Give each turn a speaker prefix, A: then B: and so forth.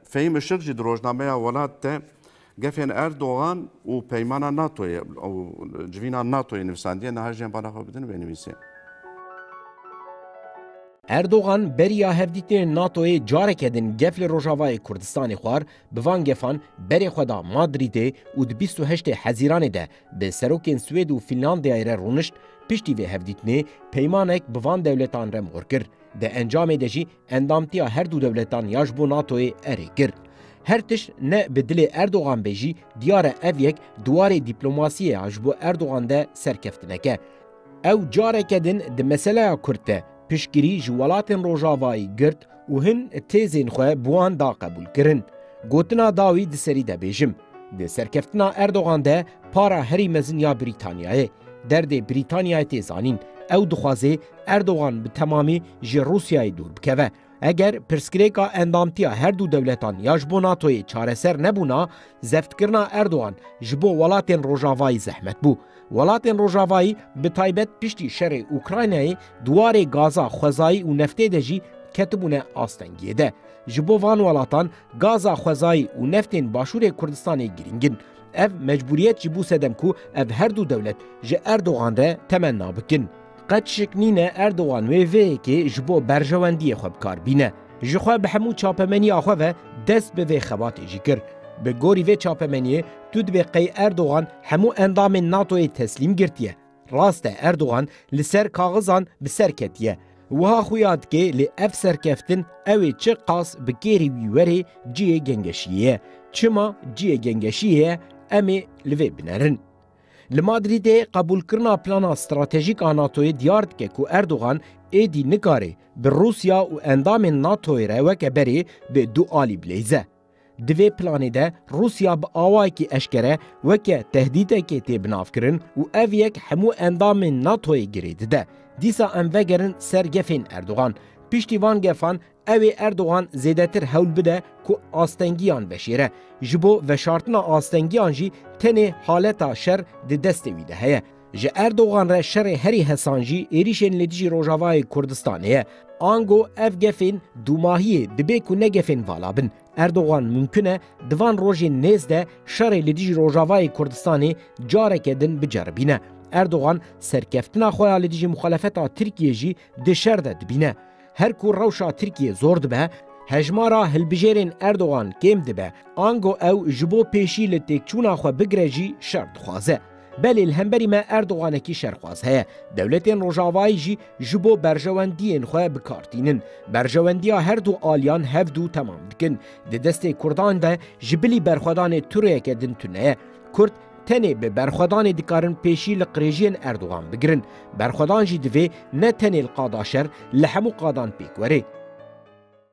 A: Fehîm Işık jî di rojnameya Welat de gefên Erdogan û peymana NATOyê û civîna NATOyê nivîsandiye. Niha jiyên bala xwe bidin wê nivîsê. Erdogan beriya hevdîtinên NATOyê careke din gef li Rojavayê Kurdistanê xwar, bi van gefan berê xwe da Madrîdê û di bîst û heştê Hezîranê de bi serokên Swêd û Fînlandiyayê re rûnişt, piştî vê hevdîtinê peymanek bi van dewletan re mor kir. Di encamê de jî endamtiya her du dewletan ya ji bo NATO'yê erê kir. Her tişt ne bi dilê Erdogan be jî diyar e ev yek diwarê dîplomasiyê ya ji bo Erdogan de serkeftineke. Ew careke din di meseleya Kurd de piştgirî ji welatên Rojavayî girt û hin têzên xwe bi wan da qebûlkirin. Gotina dawî di serî de bêjim. Di serkeftina Erdogan de para herî mezin ya Brîtanyayê. Derdê Brîtanyayê tê zanîn. Ew dixwaze Erdogan bi temamî ji Rûsyayê dûr bikeve. Eger pirsgirêka endamtiya her du dewletan ya ji bo NATOyê çareser nebûna, zeftkirina Erdogan ji bo welatên Rojavayî zehmet bû. Welatên Rojavayî bi taybet piştî şerê Ukraynayê di warê gaza xwezayî û neftê de jî ketibûne astengiyê de. Ji bo van welatan gaza xwezayî û neftên Başûrê Kurdistanê girîng in. Ev mecbûriyet jî bû sedem ku ev her du dewlet ji Erdogan re temenna bikin. Qet şik nîne Erdogan wê vê yekê ji bo berjewendiyê xwe bikar bîne. Ji xwe bi hemû çapemeniya xwe ve dest bi vê xebatê jî kir. Bi gorî vê çapemeniyê tu dibê qey Erdogan hemû endamên NATO'yê teslîm girtiye. Rast e Erdogan li ser kaxizan bi ser ketiye, wiha xuya dike lê ev serkeftin ew ê çi qas bi kêrî wî were cihê gengeşiyê ye. Çima cihê gengeşiyê ye em ê li vê binerin. Li Madrîdê qebûlkirina plana stratejîk a NATO'yê diyar dike ku Erdogan êdî nikare bi Rûsya û endamên NATO'yê re weke berê bi du alî bileyze. Di vê planê de Rûsya bi awayekî eşkere weke tehdîtekê tê binavkirin û ev yek hemû endamên NATO'yê girê dide. Dîsa em vegerin ser gefên Erdogan. Piştî van gefan ew ê Erdogan zêdetir hewl bide ku astengiyan veşêre. Ji bo veşartina astengiyan jî tenê haleta şer di destê wî de heye. Ji Erdogan re şerê herî hesan jî êrîşên li dijî Rojavayê Kurdistanê ye. Ango ev gefên dûmahiyê dibê ku ne gefên vala bin. Erdogan mumkin e di van rojên nêz de şerê li dijî Rojavayê Kurdistanê careke din biceribîne. Erdogan serkeftina xwe ya li dijî muxalefeta Tirkiyê jî di şer de dibîne. Her ku rewşa Tirkiyê zor dibe, hejmara hilbijêrên Erdogan kêm dibe, ango ew ji bo pêşî li têkçûna xwe bigire jî şer dixwaze. Belê li hemberî me Erdoganekî şerxwaz heye. Dewletên Rojavayî jî ji bo berjewendiyên xwe bi kar tînin. Berjewendiya her du aliyan hev du temam dikin. Di destê Kurdan de ji bilî berxwedanê tu rêyeke din tune ye. Kurd Tenê bi berxwedanê dikarin pêşî li qirêjiyên Erdogan bigirin. Berxwedan jî divê ne tenê li qada şer, li hemû qadan pêk were.